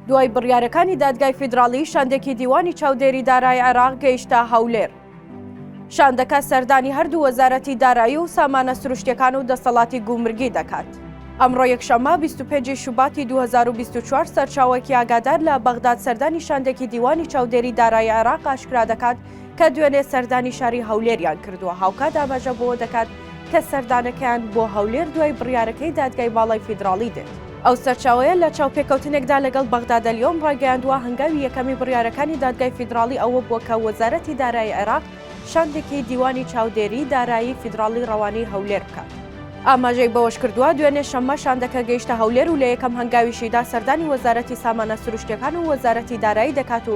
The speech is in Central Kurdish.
دوای بڕیارەکانی دادگای فیدراڵی شاندێکی دیوانی چاودێری دارای عێراق گەیشتە هەولێر. شاندەکە سەردانی هەردوو وەزارەتی دارایی و سامانە سروشتەکان و دەسەڵاتی گومرگی دەکات. ئەمڕۆ یەکشەممە 25 شوباتی 2024 سەرچاوەکی ئاگادار لە بەغداد سەردانی شاندێکی دیوانی چاودێری دارای عێراق ئاشکرا دەکات کە دوێنێ سەردانی شاری هەولێریان کردووە هاوکات ئاماژە بۆ دەکات کە سەردانەکەیان بۆ هەولێر دوای بڕیارەکەی دادگای باڵای فیدراڵی دێت. ئەو سەرچاوەیە لە چاوپێکەوتنێکدا لەگەڵ بەغدادەلیۆم ڕایگەیاندووە هەنگاوی یەکەمی بڕیارەکانی دادگای فیدراڵی ئەوە بووە کە وەزارەتی دارایی عێراق شاندێکی دیوانی چاودێریی دارایی فیدراڵی ڕەوانەی هەولێر بکات. ئاماژەی بەوەشکردووە، دوێنێ شەممە شاندەکە گەیشتە هەولێر و لە یەکەم هەنگاویشیدا سەردانی وەزارەتی سامانە سروشتییەکان و وەزارەتی دارایی دەکات و